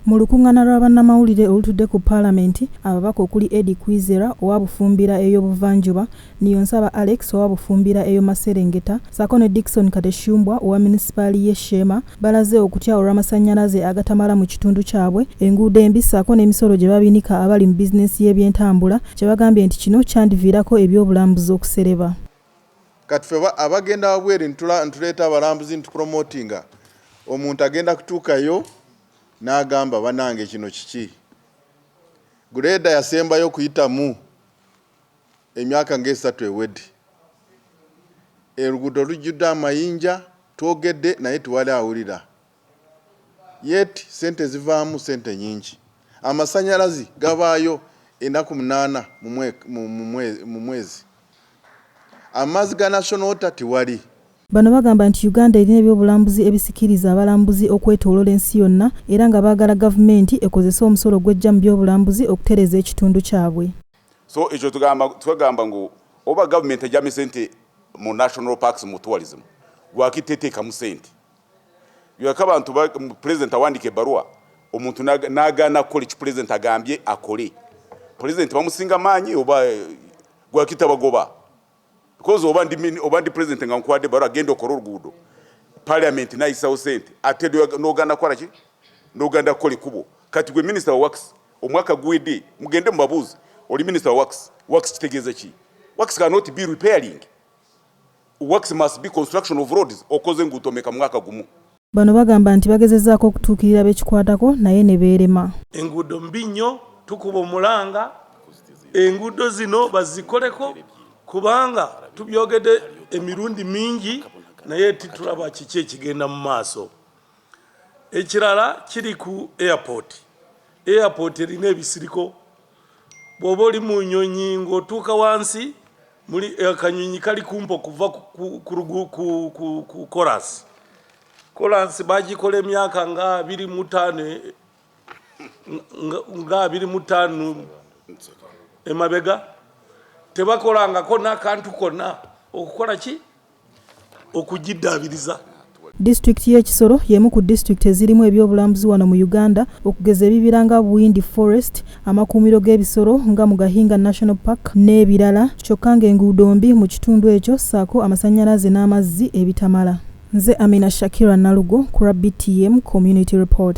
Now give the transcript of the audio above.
Mu lukungana lwa bannamawulire olutudde ku palamenti, ababaka okuli Eddie Kwizera owa Bufumbira eyo Buvanjuba, Niyonsaba Alex owa Bufumbira eyo Maserengeta saako ne Dickson Kateshumbwa owa munisipaali ye Sheema balaze okutya olw'amasanyalaze agatamala mu kitundu kyabwe, enguudo embi saako n'emisolo gye babinika abali mu bizinensi y'ebyentambula kyebagambye nti kino kyandiviirako eby'obulambuzi okusereba. Kati ffe abagenda wabweru ntuleeta abalambuzi ntupromotinga, omuntu agenda kutuukayo n'agamba banange kino kiki? Guleeda yasembayo okuyitamu emyaka ng'esatu ewedde. Oluguudo lujjudde amayinja, twogedde naye tewali awulira. yet sente zivaamu sente nyingi amasanyalazi gabaayo enaku munana mumwezi amazi ga national water tewali. Bano bagamba nti Uganda erina ebyobulambuzi ebisikiriza abalambuzi okwetolola ensi yonna era nga baagala gavumenti ekozese omusolo gwejja mu byobulambuzi okutereeza ekitundu kyabwe. So ekyo tugamba twegamba ngu oba government ejamye sente mu national parks mu tourism lwaki tetekamu sente Yoleka abantu ba, Pulezidenti awandiika ebbaluwa omuntu n'agaana kukola ekyo Pulezidenti agambye akole. Pulezidenti bamusinga maanyi oba gwaki tabagoba? Because oba ndi, oba ndi Pulezidenti nga nkuwadde ebbaluwa genda okole oluguudo, Parliament nayisawo sente ate n'ogaana kukola ki? N'ogaana kukola ekkubo. Kati gwe minisita wa wakisi omwaka guwedde mugende mubabuuze oli minisita wa wakisi, wakisi kitegeeza ki? Wakisi cannot be repairing. Works must be construction of roads okoze enguuto meka mwaka gumu? Bano bagamba nti bagezezaako okutuukirira bekikwatako naye nebeerema. Enguudo mbi nnyo tukuba omulanga enguudo zino bazikoleko kubanga tubyogedde emirundi mingi naye titulaba kiki ekigenda mu maaso. Ekirala kiri ku airport. Airport erina ebisiriko. bw'oba oli mu nnyonyi ng'otuuka wansi muli akanyonyi kali kumpa okuva ku kolansi kolansi bagikola emyaka nga abiri mu ttaano nga abiri mu ttaano emabega tebakolangako n'akantu konna okukola ki okugiddaabiriza. Disitulikiti y'e Kisoro y'emu ku disitulikiti ezirimu ebyobulambuzi wano mu Uganda okugeza ebibira nga Buyindi Forest, amakuumiro g'ebisolo nga Mugahinga National Park n'ebirala kyokka ng'enguudo mbi mu kitundu ekyo ssaako amasannyalaze n'amazzi ebitamala. Nze Amina Shakira Nalugo ku lwa BTM Community Report.